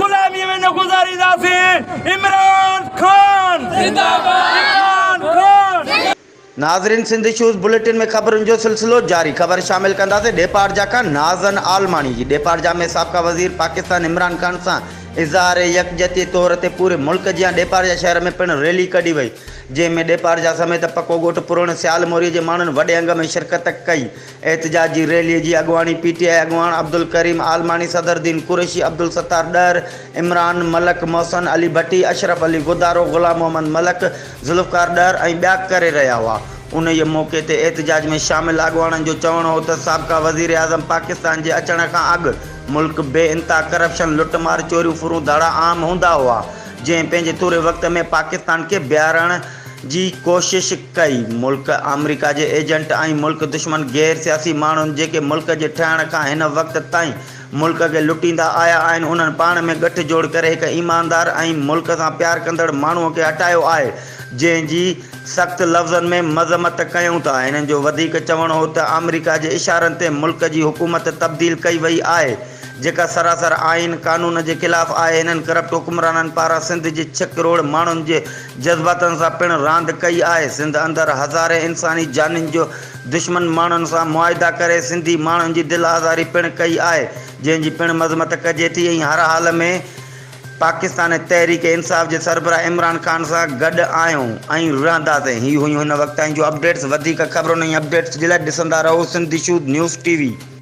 غلامي ۾ نه گذارينداسين عمران خان زنده باد. ناظرين سنڌ اشوز بليٽن ۾ خبرن جو سلسلو جاري خبر شامل ڪنداسين ڏيپارجا کان ناظن عالماڻي جي ڏيپارجا ۾ سابقه وزير پاڪستان عمران خان سان اظهار يڪجهتي طور تي پوري ملڪ جيان ڏيپارجا شهر ۾ پڻ ريلي ڪڍي وئي جنهن ۾ ڏيپارجا سميت پڪو ڳوٺ پروڻ سيال موري جي ماڻهن وڏي انگ ۾ شرڪت ڪئي احتجاج جي ريلي جي اڳواڻي پي ٽي آء اڳواڻ عبدالڪريم عالماڻي، صدر دين قريشي، عبدالستار ڏهر، عمران ملڪ، محسن علي ڀٽي، اشرف علي غدارو، غلام محمد ملڪ، ذوالفقار ڏهر ۽ ٻيا ڪري رهيا هئا. انهيء موقعي تي احتجاج ۾ شامل اڳواڻن جو چوڻ هو ته سابقه وزيراعظم پاڪستان جي اچڻ کان اڳ ملڪ بي انتها ڪرپشن، لٽ مار، چوريون ڦرون ڌاڙا عام هوندا هئا، جنهن پنهنجي ٿوري وقت ۾ پاڪستان کي بيهارڻ، جي ڪوشش ڪئي. ملڪ آمريڪا جي ايجنٽ ۽ ملڪ دشمن غير سياسي ماڻهن جيڪي ملڪ جي ٺهڻ کان هن وقت تائين ملڪ کي لٽيندا آيا آهن انهن پاڻ ۾ ڳٺ جوڙ ڪري هڪ ايماندار ۽ ملڪ سان پيار ڪندڙ ماڻهو کي هٽايو آهي جنهن جي سخت لفظن ۾ مذمت ڪيون ٿا هنن جو وڌيڪ چوڻ هو ته آمريڪا جي اشارن تي ملڪ جي حڪومت تبديل ڪئي وئي آهي جيڪا سراسر آئين قانون جي خلاف آهي، هنن ڪرپٽ حڪمرانن پاران سنڌ جي ڇهه ڪروڙ ماڻهن جي جذباتن سان پڻ راند ڪئي آهي، سنڌ اندر هزارين انساني جانين جو دشمن ماڻهن سان معاهدا ڪري سنڌي ماڻهن جي دل آزاري پڻ ڪئي آهي، جنهن جي پڻ مذمت ڪجي ٿي ۽ هر حال ۾ پاڪستان تحريڪ انصاف جي سربراهه عمران خان سان گڏ آهيون ۽ رهنداسين هي هيون هن وقت تائين جون اپڊيٽس وڌيڪ خبرن ۽ اپڊيٽس جي لاء ڏسندا رهو Sindh Shodh news T V.